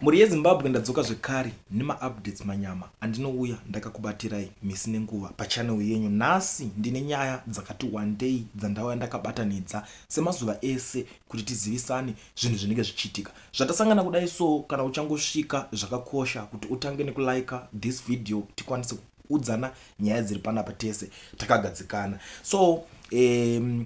Mhuri yeZimbabwe ndadzoka zvekare nema updates manyama andinouya ndakakubatirai misi nenguva pa channel yenyu nhasi ndine nyaya dzakati wandei dzandauya ndakabatanidza semazuva ese kuti tizivisane zvinhu zvinenge zvichiitika zvatasangana kudai so kana uchangosvika zvakakosha kuti utange nekulaika this video tikwanise kuudzana nyaya dziri panapa tese takagadzikana so um,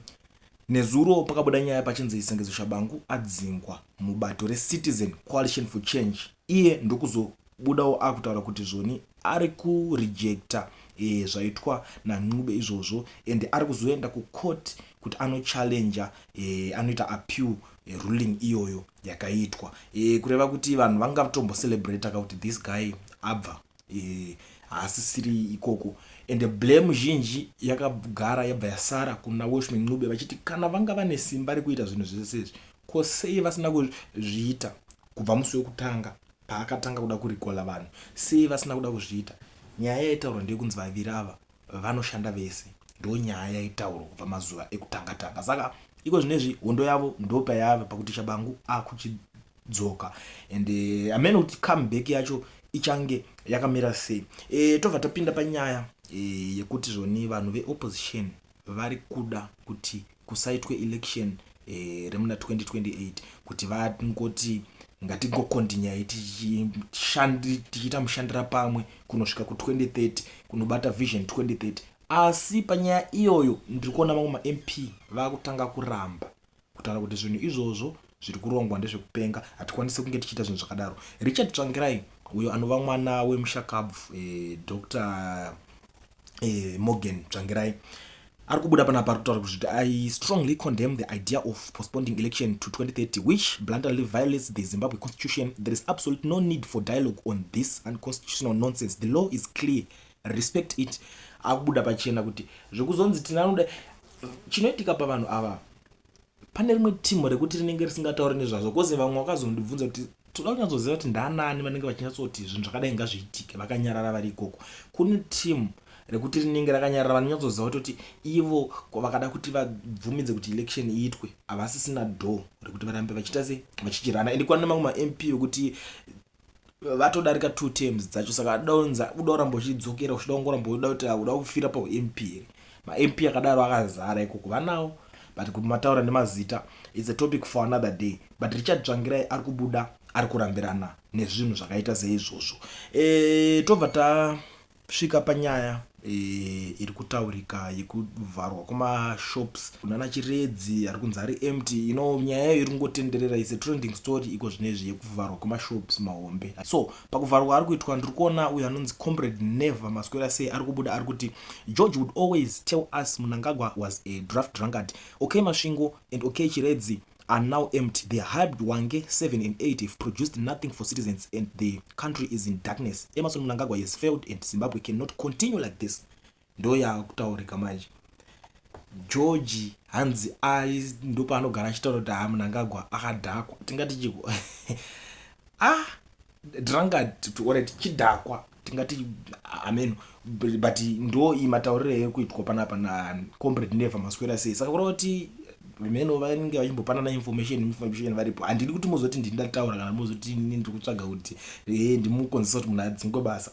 Nezuro pakabuda nyaya pachinzi Sengezo Shabangu adzingwa mubato reCitizen Coalition for Change iye ndokuzobudawo akutaura kuti zvoni ari kurejecta e, zvaitwa naNcube izvozvo and ari kuzoenda kucourt kuti anochallenger e, anoita appeal e, ruling iyoyo yakaitwa e, kureva kuti vanhu vangatombocelebrataka kuti this guy abva Eh, haasisiri ikoko and blame zhinji yakagara yabva yasara kuna washman ncube vachiti kana vanga vane simba rekuita zvinhu zvese izvi ko sei vasina kuzviita kubva musi wekutanga paakatanga kuda kurikola vanhu sei vasina kuda kuzviita nyaya yaitaurwa ndeyekunzi vaviri ava vanoshanda vese ndonyaya yaitaurwa kubva mazuva ekutanga tanga saka iko zvinezvi hondo yavo ndopayava pakuti chabangu akuchidzoka and eh, amene kuti comeback yacho ichange yakamira sei e, tobva tapinda panyaya e, yekuti zvoni vanhu veopposition vari kuda kuti kusaitwe election eh, remuna 2028 kuti vangoti ngatingokondinyai tichiita mushandira pamwe kunosvika ku2030 kunobata vision 2030 asi panyaya iyoyo ndiri kuona vamwe mamp vakutanga kuramba kutaura kuti zvinhu izvozvo zviri kurongwa ndezvekupenga hatikwanisi kunge tichiita zvinhu zvakadaro richard tsvangirai uyo anova mwana wemushakabvu eh, dr eh, morgan tsvangirai ari kubuda panapa ari kutaura kuti i strongly condemn the idea of postponing election to 2030 which bluntly violates the zimbabwe constitution there is absolute no need for dialogue on this unconstitutional nonsense the law is clear respect it akubuda pachena kuti zvekuzonzi tinanoda chinoitika pavanhu ava pane rimwe timo rekuti rinenge risingatauri nezvazvo kozi vamwe vakazondibvunza kuti toda kunyatsoziva kuti ndaanani vanenge vachinyatsoti zvinhu zvakadai ngazviitike vakanyarara vari ikoko kune timu rekuti rinenge rakanyarara vanonyatsoziva kutoti ivo vakada kuti vabvumidze kuti election iitwe havasisina door rekuti varambe vachiita se vachichirana and kwane mamwe mamp vekuti vatodarika two terms dzacho saka adaunza uda kuramba uchidzokera uchida kungoramba uda kuti uda kufira pamp here mamp akadaro akazara ikoko vanawo but kuti mataura nemazita its a topic for another day but richard tsvangirai ari kubuda ari kurambirana nezvinhu zvakaita seizvozvo e, tobva ta Kusvika panyaya e, iri kutaurika yekuvharwa kwemashops kunana Chiredzi ari kunzi ari empty, you know nyaya iyo iri kungotenderera is a trending story iko zvino izvi yekuvharwa kwemashops mahombe. So pakuvharwa ari kuitwa ndiri kuona uyo anonzi Comrade Never Maswera sei ari kubuda ari kuti George would always tell us Mnangagwa was a draft drunkard. Okay Masvingo and okay Chiredzi are now empty they hyped wange 7 and 8 have produced nothing for citizens and the country is in darkness emerson mnangagwa has failed and zimbabwe cannot continue like this ndo yaakutaurika manje georgi hanzi ari ndo paanogara achitaura kuti haa mnangagwa akadhakwa tingati chiko ah drangard orit chidhakwa tingati ameno but ndo iyi matauriro yaive kuitwa panapa nacombrade never maswera sei saka kureva kuti vemeno vanenge vachimbopanana information information varipo handidi kuti mozoti ndini ndataura kana mozoti ini ndiri kutsvaga kuti e ndimukonzesa kuti munhu adzingwe basa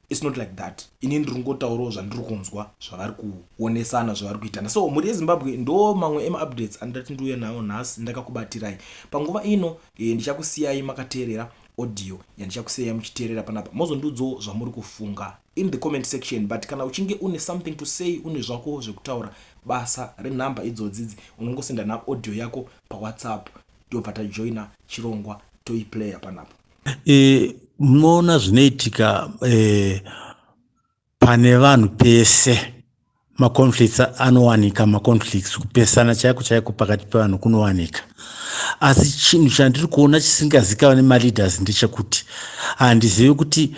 It's not like that ini ndiri kungotaurawo zvandiri kunzwa zvavari kuonesana zvavari kuitana so mhuri yezimbabwe ndo mamwe emaupdates andati ndiuye nawo nhasi ndakakubatirai panguva ino e, ndichakusiyai makateerera audio yandichakusiyai muchiteerera panapa mozondiudzawo zvamuri kufunga in the comment section but kana uchinge une something to say une zvako zvekutaura basa renhamba idzodzidzi unongosenda naaudio yako pawhatsapp ndobva tajoina chirongwa toiplayer panapa e, munoona zvinoitika e, pane vanhu pese maconflicts anowanika maconflicts kupesana chaiko chaiko pakati pevanhu kunowanika asi chinhu chandiri kuona chisingazikava nemaleaders ndechekuti handizivi kuti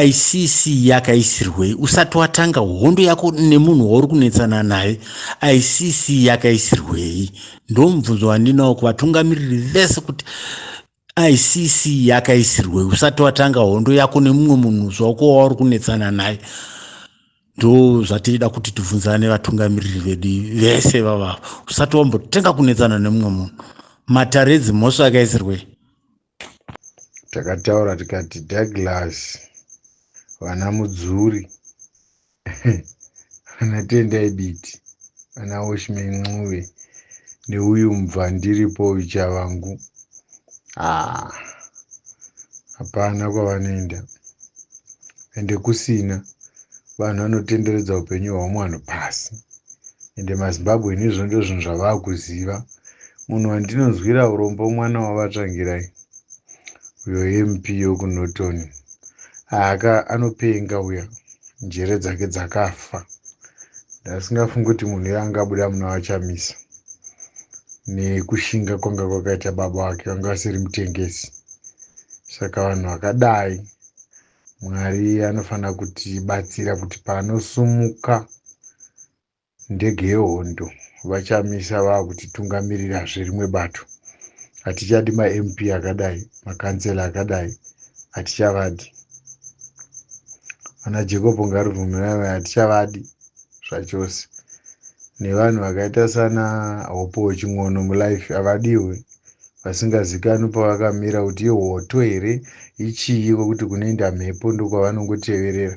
icc yakaisirwei usati watanga hondo yako nemunhu wauri kunetsana naye icc yakaisirwei ndomubvunzo wandinawo kuvatungamiriri vese kuti icc yakaisirwei usati watanga hondo yako nemumwe munhu zvako wauri kunetsana naye ndo zvatida kuti tibvunzane vatungamiriri vedu vese vavava usati wambotenga kunetsana nemumwe munhu matare edzimhosva akaisirwei takataura tikati douglas vana mudzuri ana tendai biti ana oshme ncube neuyu mubva ndiripo uyu chavangu haa hapana kwavanoenda ende kusina vanhu vanotenderedza upenyu hwavamwe vanhu pasi ende mazimbabwe nezvo ndozvinhu zvavava kuziva munhu wandinonzwira urombo mwana wavatsvangirai uyo mp yokunoton aaka anopenga uya njere dzake dzakafa ndasingafungi kuti munhu iye angabuda muna vachamisa nekushinga kwanga kwakaita baba vake vanga vasiri mutengesi saka vanhu vakadai mwari anofanira kutibatsira kuti panosumuka Ndege yehondo vaChamisa vakutitungamirirasve rimwe bato. Hatichadi maMP akadai, makansela akadai hatichavadi. Vana Jacob Ngarivhumiramai hatichavadi zvachose. Nevanhu vakaita sana Hope Chin'ono mulife havadiwe. vasingazikanwi pavakamira kuti ihoto here ichii kwekuti kunoenda mhepo ndokwavanongoteverera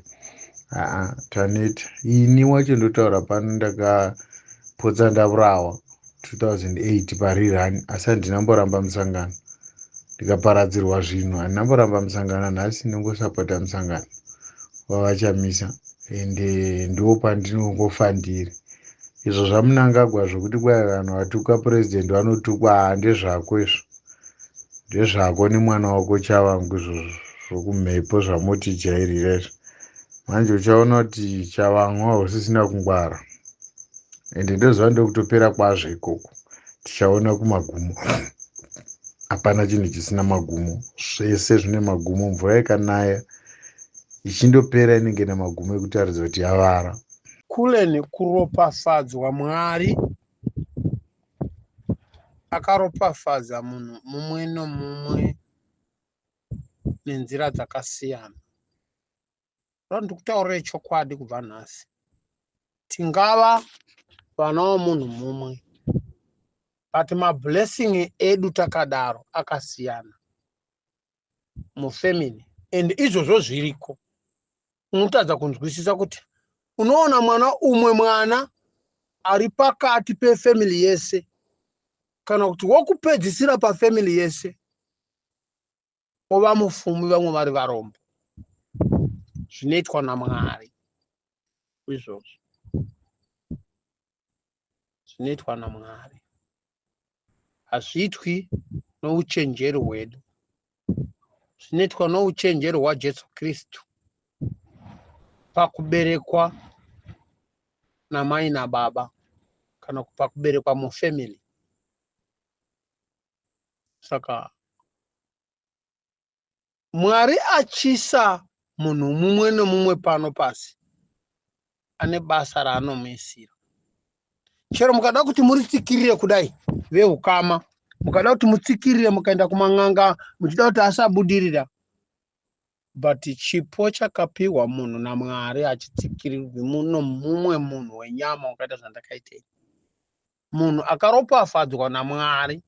aa taneta ini wacho ndotaura pano ndakapotsa ndavurawa 2008 parirani asi handina mboramba musangano ndikaparadzirwa zvinhu handina mboramba musangano nhasi ndongosapota musangano vavachamisa ende ndo pandinongofandiri Izvo zvamunangagwa zvekuti kwai vanhu vatuka president vanotukwa haa ndezvako izvo. Ndezvako nemwana wako chavangu izvozvo zvokumhepo zvamotijairira izvo. Manje uchaona kuti chavangu hausisina kungwara. Ende ndoziva ndokutopera kwazvo ikoko. Tichaona kumagumo. Hapana chinhu chisina magumo. Zvese zvine magumo. Mvura ikanaya ichindopera inenge nemagumo ekutaridza kuti yavara. Cullen kuropafadzwa Mwari akaropafadza munhu mumwe nomumwe nenzira dzakasiyana ndiri kutaurira chokwadi kubva nhasi tingava vana vomunhu mumwe but mablessing edu takadaro akasiyana mufamily and izvozvo zviriko unotadza kunzwisisa kuti unoona mwana umwe mwana ari pakati pefamily yese kana kuti wokupedzisira pafamily yese ova mufumi vamwe vari varombo zvinoitwa namwari izvozvo zvinoitwa naMwari. Hazviitwi nouchenjeri hwedu. Zvinoitwa nouchenjeri hwaJesu Kristu pakuberekwa namai nababa kana pakuberekwa mufamily. Saka Mwari atyisa munhu mumwe nomumwe pano pasi ane basa raanomuisira. Chero mukada kuti muritsikirire kudai vehukama, mukada kuti mutsikirire mukaenda kuman'anga muchida kuti asabudirira, but chipo chakapiwa munhu naMwari hachitsikirirwi muno mumwe munhu wenyama wakaita zvandakaita ini. munhu akaropafadzwa naMwari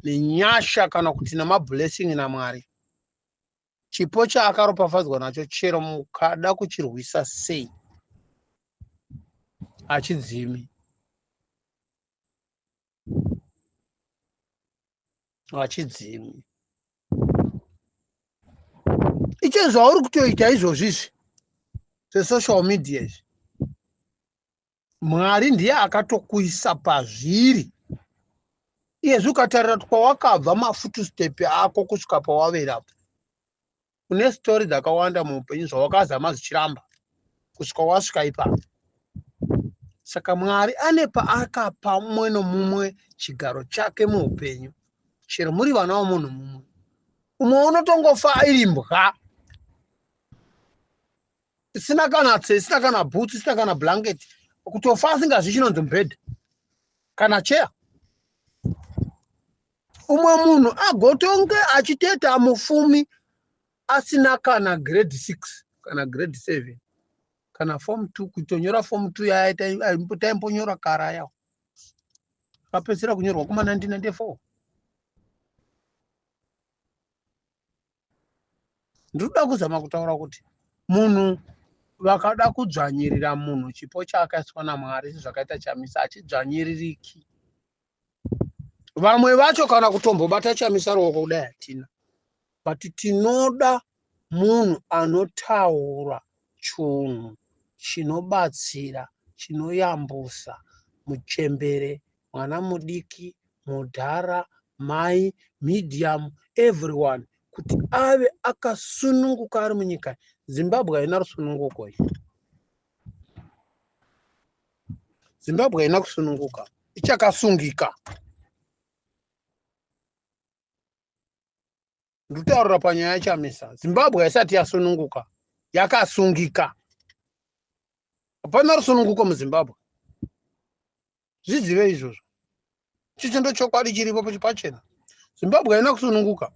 nenyasha kana kuti nemablessing naMwari chipo chaakaropafadzwa nacho chero mukada kuchirwisa sei hachidzimi hachidzimi icho zvauri kutoita izvozvi izvi zvesocial media izvi mwari ndiye akatokuisa pazviri iyezvi ukatarira kwawakabva mafutustepe ako kusvika pawaverapo une story dzakawanda muupenyu zvawakazama zvichiramba kusvika wasvika ipapo saka mwari ane paakapa umwe nomumwe chigaro chake muupenyu chero muri vana vomunhu mumwe umwe unotongofa iri mbwa isina kana tse isina kana boots isina kana blanket kutofa asingazvi chinonzi mubhedha kana cheya umwe munhu agotonge achiteta mufumi asina kana grade six kana grade seven kana form two kutonyora form two yaya taimbonyora kara yawo akapedzisira kunyorwa kuma 1994 ndinoda kuzama kutaura kuti munhu vakada kudzvanyirira munhu chipo chaakaiswa namwari sezvakaita chamisa achidzvanyiririki vamwe vacho kana kutombobata chamisa ruoko kudai hatina but tinoda munhu anotaura chunhu chinobatsira chinoyambusa muchembere mwana mudiki mudhara mai medium everyone kuti ave akasununguka ari munyika zimbabwe haina rusununguko i zimbabwe haina kusununguka ichakasungika ndikutaurira panyaya yachamisa zimbabwe haisati yasununguka yakasungika hapana rusununguko muzimbabwe zvizive izvozvo chicho ndochokwadi chiripo pachena zimbabwe haina kusununguka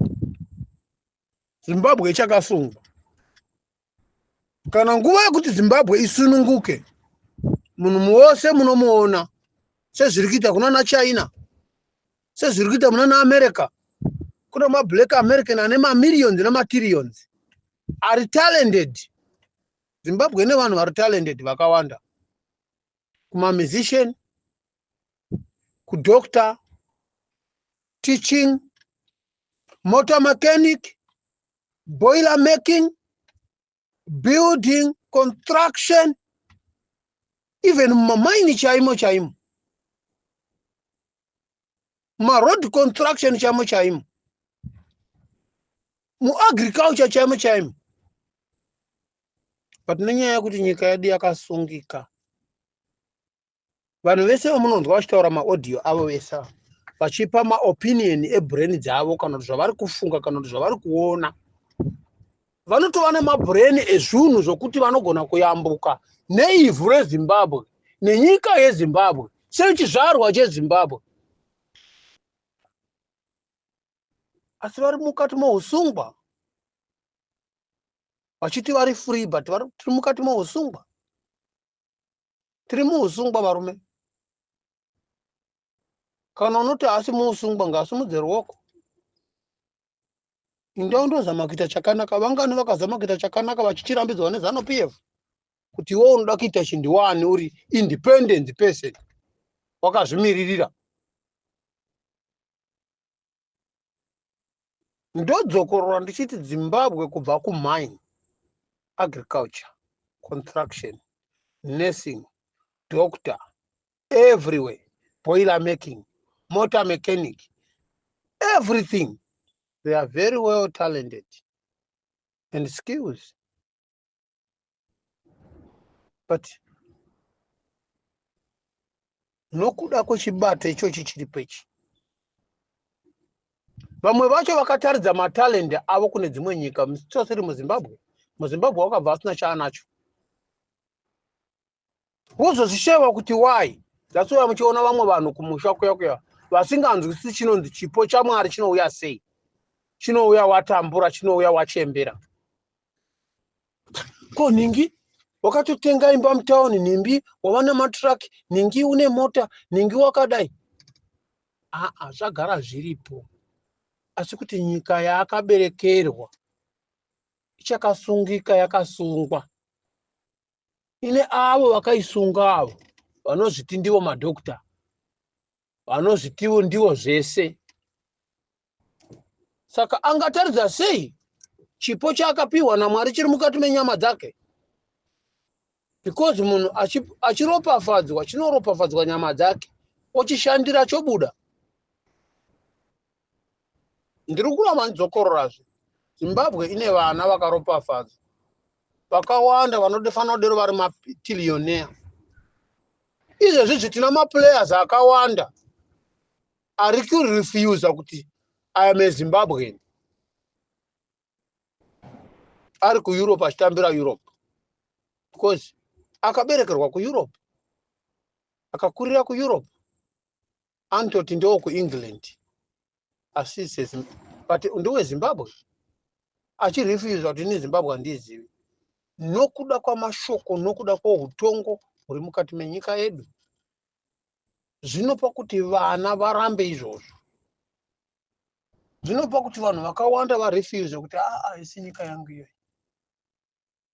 zimbabwe ichakasungwa kana nguva yekuti zimbabwe isununguke munhu muwose munomuona sezviri kuita kunana china sezviri kuita munana america kune mablack american ane mamillions nematirrions ari talented zimbabwe ine vanhu vari talented vakawanda kumamusician kudoctor teaching motor mechanic boiler making building construction even mumamaini chaimo chaimo maroad construction chaimo chaimo muagriculture chaimo chaimo but nenyaya yekuti nyika yedu yakasungika vanhu vese vamunonzwa vachitaura maaudio avo vese ava vachipa maopinion ebrain dzavo kana kuti zvavari kufunga kana kuti zvavari kuona vanotova nemabrain ezvinhu zvokuti vanogona kuyambuka neivhu rezimbabwe nenyika yezimbabwe sechizvarwa chezimbabwe asi vari mukati mousungwa vachiti vari free but tiri mukati mousungwa tiri muusungwa varume kana unoti haasi muusungwa ngaasimudze ruoko inda undozama kuita chakanaka vangani vakazama kuita chakanaka vachichirambidzwa nezano p f kuti iwe unoda kuita chinhu wani uri independent person wakazvimiririra ndodzokorora ndichiti zimbabwe kubva kumine agriculture construction nursing doctor everywhere boiler making motor mechanic everything they are very well talented and skills but nokuda kwechibate ichochi chiripo ichi vamwe vacho vakataridza matalende avo kune dzimwe nyika msitosiri muzimbabwe muzimbabwe wakabva asina chaanacho wozozvishaiwa kuti why that's why muchiona vamwe vanhu kumusha kuya kuya vasinganzwisisi chinonzi chipo chamwari chinouya sei chinouya watambura chinouya wachembera ko nhingi wakatotenga imba mutauni nhimbi wava nematrack nhingi une mota nhingi wakadai aa zvagara zviripo asi kuti nyika yaakaberekerwa ichakasungika yakasungwa ine avo vakaisunga avo vanozviti ndivo madokta vanozvitivo ndivo zvese saka angataridza sei chipo chaakapiwa namwari chiri mukati menyama dzake because munhu achiropafadzwa chinoropafadzwa nyama dzake ochishandira chobuda ndiri kuramba ndidzokororazve zimbabwe ine vana vakaropafadzwa vakawanda vanofanira kudero vari matilioneya izvezvi zvi tina maplayers akawanda ari kurefusa kuti iam a zimbabwean ari kueurope achitambira europe because akaberekerwa kueurope akakurira kueurope anototi ndewo kuengland asi but ndewe zimbabwe achirefuswa kuti ini zimbabwe handiizivi nokuda kwamashoko nokuda kwoutongo huri mukati menyika yedu zvinopa kuti vana varambe izvozvo zvinopa kuti vanhu vakawanda varefuse kuti aa ah, ah, isi nyika yangu iyoyi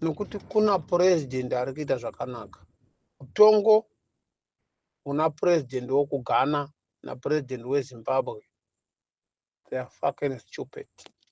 nokuti kuna purezidhendi ari kuita zvakanaka mutongo una purezidhendi wokugana napurezidhendi wezimbabwe they are fucking stupid